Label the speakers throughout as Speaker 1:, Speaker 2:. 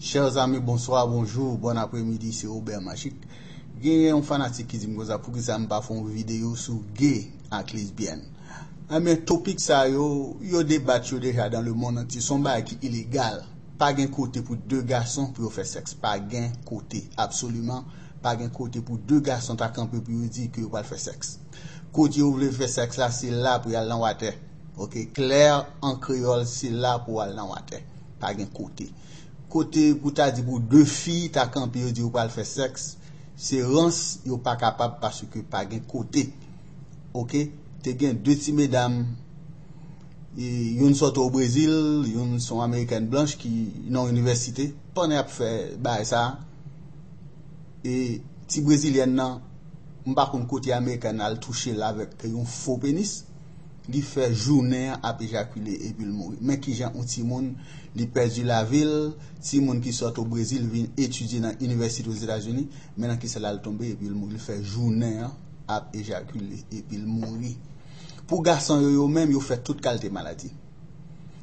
Speaker 1: Chers amis bonsoir, bonjour, bon après midi se Obert Magic. Genyen yon fanatik ki di m konsa poukisa m pa fè yon videyo sou gay ak lesbyèn. Enben topik sa yo, yo debat yo deja dan le mond antye, son bagay ki ilegal. Pa gen kote pou 2 gason pou yo fè sèks, pa gen kote, absoliman pa gen kote pou 2 gason ta kanpe pou yo di ke yo pral fè sèks. Kote yo vle fè sèks la se la pou yal nan watè. Ok, clair en créole se la pou al nan watè. Pa gen kote. Kote pou ta di pou 2 fi ta kanpe yo di yo pral fè sèks, se rans yo pa kapab paske pa gen kote. Ok, te gen 2 ti medam, youn sòti o Brezil, youn se yon amerikèn blanch ki nan inivèsite, pandan y ap fè bagay sa, e ti brezilyèn nan, m pa konn kote amerikèn nan al touche l avèk yon fo penis, Li fè jounen an ap ejakile epi l mouri. Men kijan yon timoun li pèdi lavi l, timoun ki sot o Brezil vin etidye nan inivèsite Ozetazini, men nan kisa l al tonbe epi l mouri. Li fè jounen an ap ejakile epi l mouri. Pou gason yo yo menm, yo fè tout kalte maladi.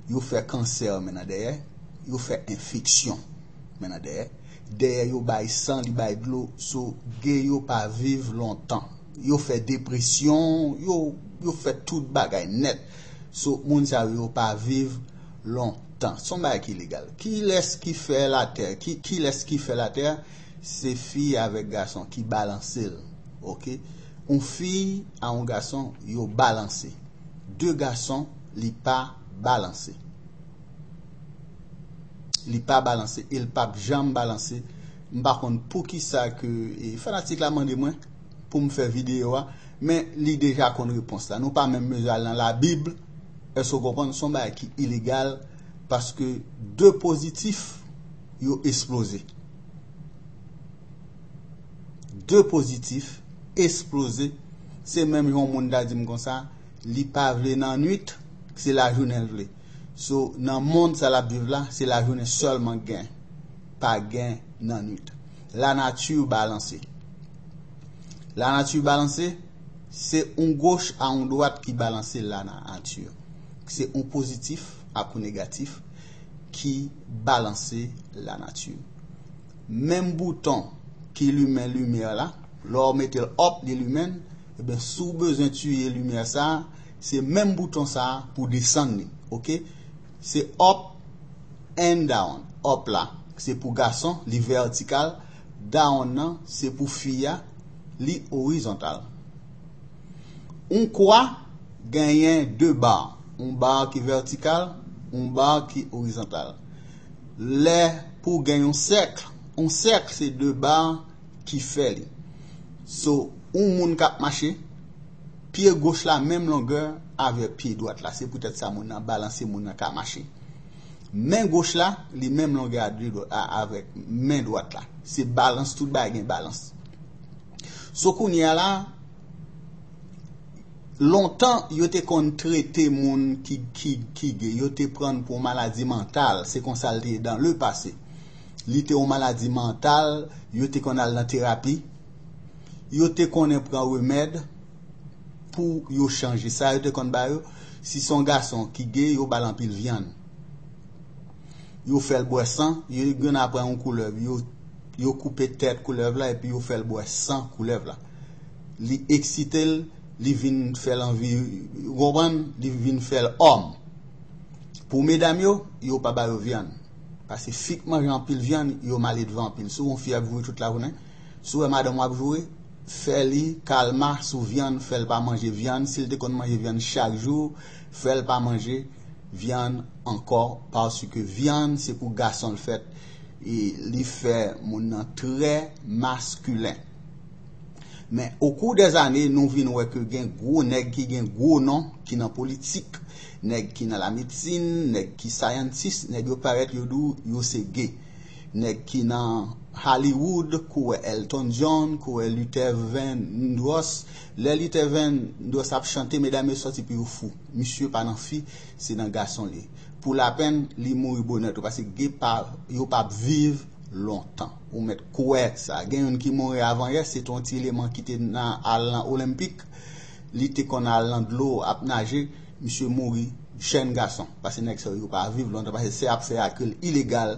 Speaker 1: Yo fè kansè men nan dèyè, yo fè enfeksyon men nan dèyè. Dèyè yo bay san, li bay dlo, so, ge yo pa viv lontan. Yo fè depresyon, yo fè tout bagay nèt. So moun sa yo pa viv lontan. Son bagay ki legal. Kilès ki fè latè? Kilès ki fè latè? Se fi avèk gason ki balanse l. Ok. Yon fi a yon gason yo balanse. De gason li pa balanse. Li pa balanse e l pap janm balanse. M pa konn poukisa ke fanatik la mande mwen. pou m fè videyo a, men li deja konn repons la. Nou pa menm bezwen al nan labib, èske ou konprann? Son bagay ki ilegal, paske de pozitif yo esploze. De pozitif esploze, se menm yon moun ta di m konsa, li pa vle nan nwit, se la jounen l vle. So, nan mond sa l ap viv la, se la jounen sèlman gen, pa gen nan nwit. La nature balanse La nature balanse Se yon goch a yon dwat ki balanse la na ature Se yon pozitif ak yon negatif ki balanse la nature Menm bouton ki limen limyè la lè w mete l op li limen l Ebyen si w bezwen tiye limyè sa se menm bouton sa pou desann li ok. Se up and down. Up la se pou gason, li vètikal, down nan se pou fi a, li orizontal. Yon kwa genyen 2 ba, yon ba ki vètikal, yon ba ki orizontal. Lè pou gen yon sèkl, yon sèkl se 2 ba ki fè li. So, yon moun k ap mache, Pye goch la menm longè avè pye dwat la, se poutèt sa moun nan balanse moun nan ka mache. Men goch la, li menm longè avèk men dwat la. Se balans, tout bagay gen balans. So kounye a la, lontan yo te konn trete moun ki gay, yo te prann pou yon maladi mantal, se konsa l te ye dan le pase. Li te yon maladi mantal, yo te konn al nan terapi. yo te konnen pran remèd pou yo chanje. Sa yo te konn ba yo, si son gason ki ge yo bal anpil vyann. Yo fèl bwè san, yo gen apran yon koulèv, yo yo koupe tèt koulèv la epi yo fèl bwè san koulèv la. Li eksitel, li vin fèl anvi, ou konprann, li vin fèl òm. Pou medam yo, yo pa ba yo vyann. Pase fi k manje anpil vyann, yo maledvan anpil. Si w yon fi ap voye tout lajounen, Si w wè madanm w ap joure, fè li kalma sou vyann, fè l pa manje vyann. Si l te konn manje vyann chak jou, fè l pa manje vyann ankò paske vyann se pou gason l fèt e li fè moun nan trè maskilen. Men, okou dè zane, nou vin wè ke gen gwo nèg ki gen gwo non ki nan politik, nèg ki nan lamedsin, nèg ki scientist, nèg yo parèt yo di w yo se gay. Nèg ki nan Hollywood kouwè Elton John, kouwè Luther Vandross, lè Luther Vandross ap chante medam yo sòti pou yo fou. Misye pa nan fi, se nan gason li. Pou lapenn, li mouri bonè tou paske gay pa yo pa p viv lontan. Ou mèt kwè sa. Gen youn ki mouri avan yè, se te yon ti eleman ki te nan al nan Olenpik, li te konn al nan dlo ap naje, misye mouri jèn gason. Pase nèg sa yo pa viv lontan paske se ap fè a ke l ilegal.